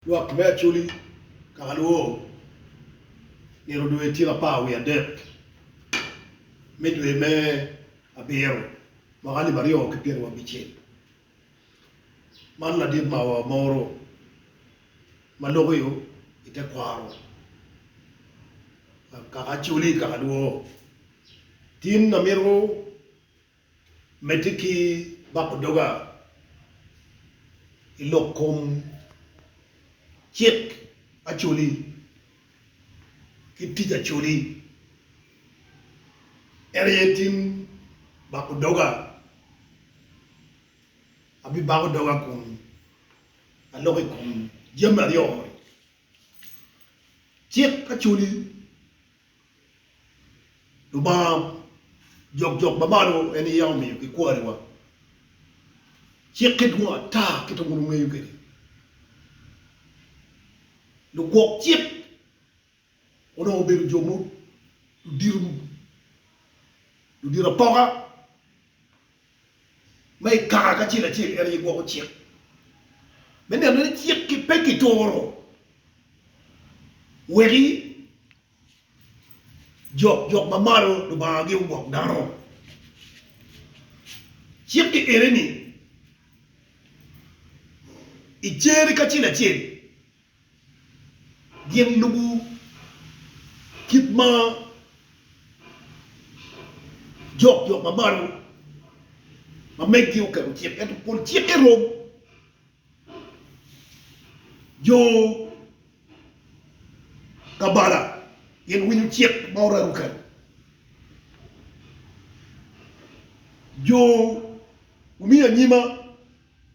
Lwak me Acholi, Kakalwor, nino dwe tye lapar wiye adek me dwe me abiro mwaka alip aryo ki pyeraryo abicel. Man ladit mawa moro ma lokio i te kwaro kaka Acholi, Kakalwor, tin amito. Medde ki bako doga i lok kom cik Acholi ki tic Acholi. En aye tim bako doga. Abibako doga kun aloko i kom jami aryo moni, Cik Acholi Lubanga jokjok ma malo en aye yam omiyo gikwariwa. Cikke dwong ata kit ma bun ongeyo kwede. Lugwok cik onongo obedo jo ma ludito apoka. ma i kare kacel acel en aye gwoko cik me neno ni cik-ki pe kituro weki jok jok ma malo Lubanga gi ogwok dano. Cik-ki eni-ni i cer kacel acel. gin lubo kit ma jok jo ma malo ma megi oketo cik ento pol cikke rom jo kabala gin winyo cik ma orare oketo jo omiyo anyima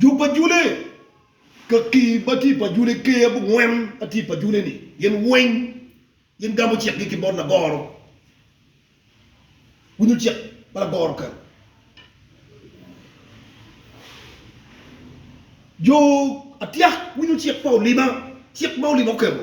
Jub ajule ka kii ma tye i pajule ker abongwen ma tye i pajule ni gin weng gin gamo cik gi ki bot lagoro winyo cik ma lagoro oketo jo atyak winyo cik pa olima cik ma olima oketo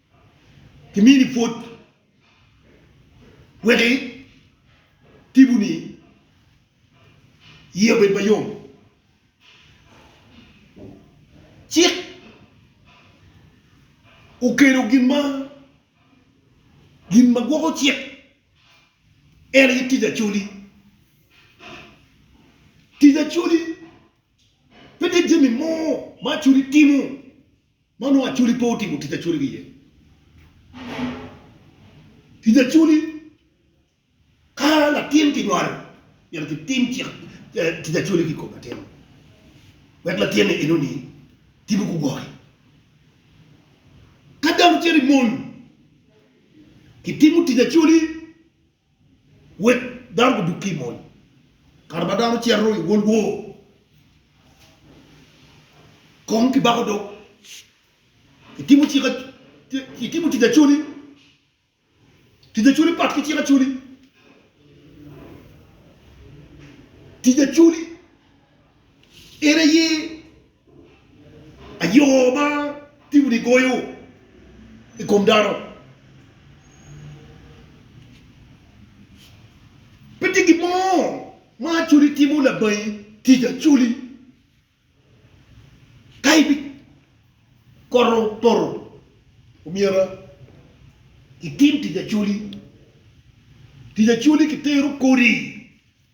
Kimini pwod weki tibu ni iyi obed mayom. Cik okelo gin ma gin ma gwoko cik en aye tic Acholi. Tic Acholi pe tye jami mo ma Acholi timo. Ma onongo Acholi pe otimo tic Acholi ki iye. Tic Acholi, Ka latin kinywalo, myero kitim cik, tic Acholi ki i kom latin-nu, wek latin-ni enoni timo ku gwoki. Ka dano cito i mony, kitimo tic Acholi. Wek dano gudug ki i mony. Kare ma dano cito i World War, kong kibako dog. Itimo cik a, itimo tic acoli. Tic acoli pat ki cik acoli. Tic acoli en aye. Ayo ma timoni goyo i kom dano pe tye gin mo ma Acoli timo labangi tic Acoli ka ibikoto poto omyera itim tic Acoli, tic Acoli kitero kodi.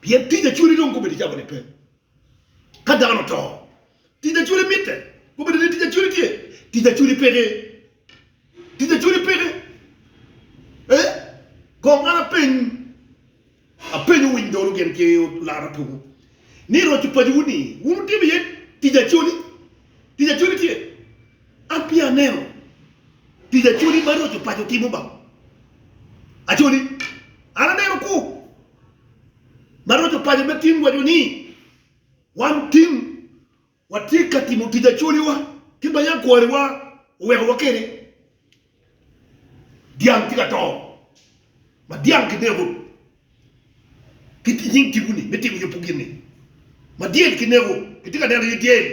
Pien tic acwali dong gubedo jami nipe ka dano oto. Tic acwali mitte gubedo ni tic acwali tye. Tic acwali peke. Tic acwali peke. Eh? Kong an apeny, apenyo winy dolo gin ki olara piny ni roco pacowu ni wun wutimo iye tic acwali? Tic acwali tye? An peya aneno tic Acholi ma roco paco timo ba. Acholi, an aneno ku ma roco paco me tim waco ni wan tim watye ka timo tic Acholiwa ki ma yangkwariwa owekowa kede. Dyang tye ka to ma dyang kinego ki nying tipo-ni me timo yubu gin-ni, ma dyel kinego kitye ka neno iye dyel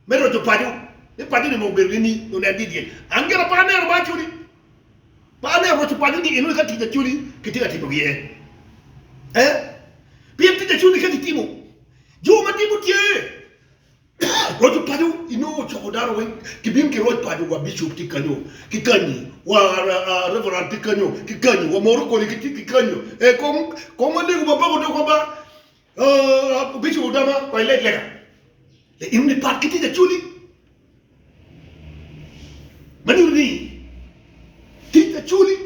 me roco paco ni paco ni onongo obedo ni ni onen ni dyel. An gin apa aneno ma acoli? Pe aneno roco paco ni enoni ka tic acoli kitye ka timo gi iye eeh pien tic acoli-ni ka kitimo jo ma tipo tye. Loco paco inongo ocoko dano weng ki bim ki roc paco wa bishop tye kanyo ki kanyi wa reverend tye kanyo ki kanyi wa moro koli ki tye ki kanyo ee kong kong ma lego ma pako dog wa ba uh bishop odama wa ileg lega le in ni pat ki tye ka culi ma nyuto ni tye ka culi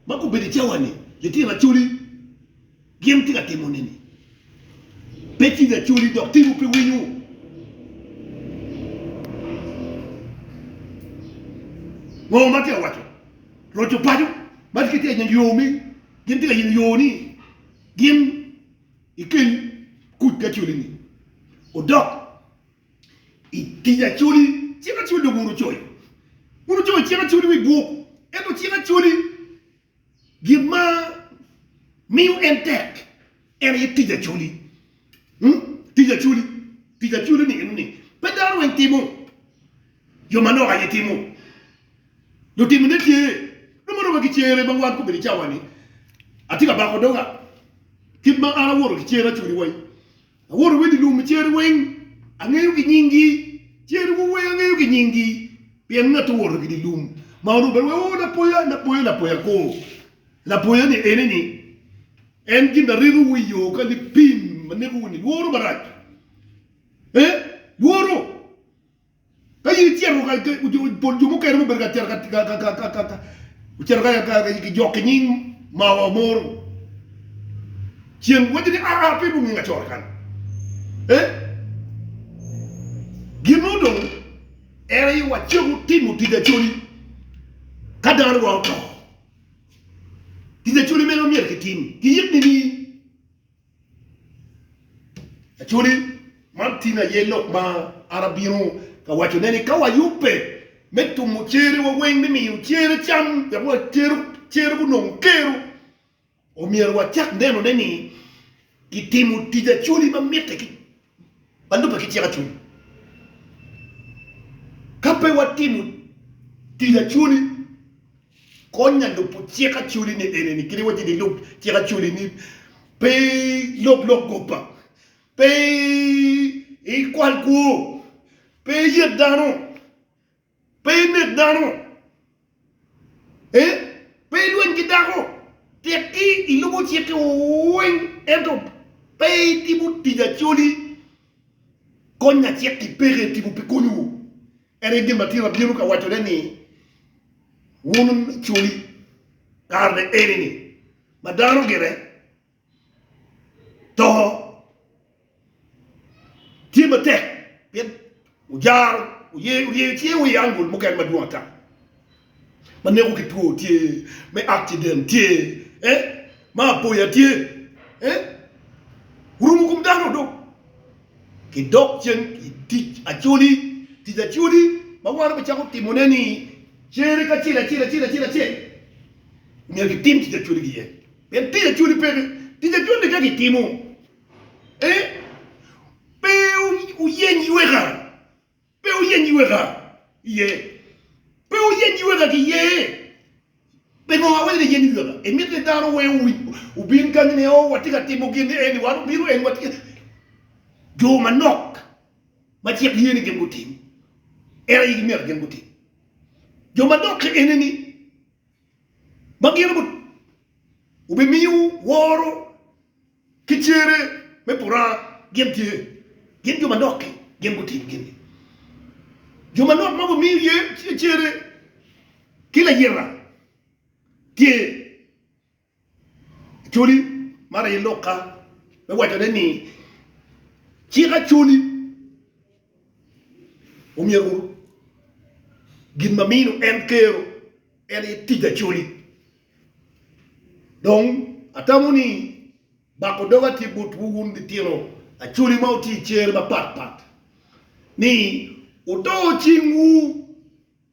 ma gubedo i cawa ni litino aculi Gin wutye ka timone-ni pe cwiny acoli, dok timwu pe winyo. Ngo ma tye ka waco? Roco paco ma tye ka yenyo yo me, gin wutye ka yenyo yo ni gin ikeny kuc acoli-ni odok i tic acoli. Cik acoli dong wun wucoyo. Wun wucoyo cik acoli wi bwok, ento cik acoli. Gin ma miyo en tek en aye tic acoli. Tic acoli, tic acoli-ni en ni pe dano weng timo, jo manok aye timo. Lutimone tye, nongo mere wa ki cere ma wan kobedi cawa-ni, atye ka bako doga, kit ma an awoto ki cer acoli wai, Awoto wed i lum i cere weng angeyo ki nying gi cere wu weng angeyo ki nying gi pien ngat owoto ki di lum ma orumo bene weko lapoya lapoya lapoya ko lapoya ni ene ni en gin na rito wu i yo ka lipim ma neko wu ni lworo marac eh lworo. Ka in icito ka pol jo mukene mubedo ka cito ocito ka ki jok ki nying ma wa moro cen waco ni aa pe lunginga coro kany eh gin mo dong en aye wa ceko timo tic acoli ka dano dwa oto tic acoli mene ma myero ki tim ki yik nini? Actually, man tin aye lok ma an abino ka wacone ni ka wayubbe me tumo cerewa weng me miyo cere cam wek wa cero cere gunong kero, omyero wacak nenone ni kitimo tic acwali ma mitte ki ba lubbe ki tyeka cwiny. Ka pe watimo tic acwali, kony nya lubo cik acwali ni enini, kadi wacci ni lub cik acwali ni pe ilok lok goba, pe ikwal kwo, pe iyet dano. Pe inek dano, ee, pe ilweny ki dako, tekki ilubo cikki weng, ento pe itimo tic acoli. Kony lacik-ki peke i timo pi konyiwu. En aye gin ma tyen abino ka wacone ni wun acoli kare-ni eni-ni, ma dano gire. to tye matek pien ojaro oryeyo cinge wa i angul mukene madwong ata ma neko ki two tye me akciden tye ma aboya tye orumo kom dano dong ki dok cen i tic acoli tic acoli ma wan wacako timone ni cere kacel acel acel acel acel myero kitim tic acoli gi iye. Pien tic acwali pe ki tic acwali ka kitimo ee pe wuyeny yweka pe wuyeny yweka iye pe wuyeny yweka ki ye pingo awaco ni yeny yweka imito ni dano we obin kany ni oo watye ka timo gin ni eni wan obino eni watye ka jo manok ma cik ye ni gin gutim en aye gimyero gin gutim jo manok enini. ma gin obimiyo woro ki cere me puranga gin tye, gin jo manok-ki gin gutim gin-ni, jo manok ma gumiyo cere ki layira tye. Actually, man aye lokka me wacone ni cik actually omyero wun gin ma mino en kero en aye tic actually. Dong atamo ni bako doga tye botwu wun litino actually ma wutye i cer mapatpat ni wuto cingwu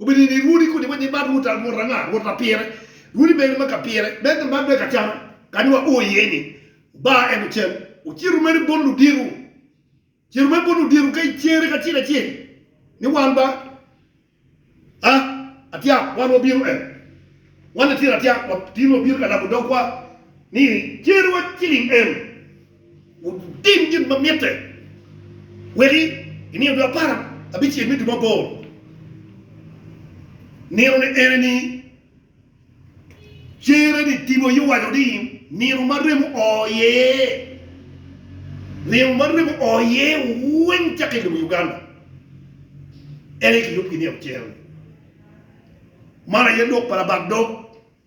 Obedo ni rwodi kodi ma gimato rwod anga, rwod pa pire, rwodi meno ma ka pire me ka man me ka cam kadi wa o iye ni baa ento cen ocito mere bot luditu, cito mere bot luditu ka icere ka cel acel ni wan ba a atyak wan wa bino en wan litino atyak wa tino wa bino ka labo dogwa ni cere wa ciling en. Wutim gin ma mitte, wek i nino dwe apar abicel me dwe ma aboro, ninone ene-ni, cer-reni timo iye owaco ni, Nino ma remo oo iye, nino ma remo oo iye weng cakke i lobo Uganda, en aye kiyubo ki nino cer-ni. Man aye lok pa labat dog.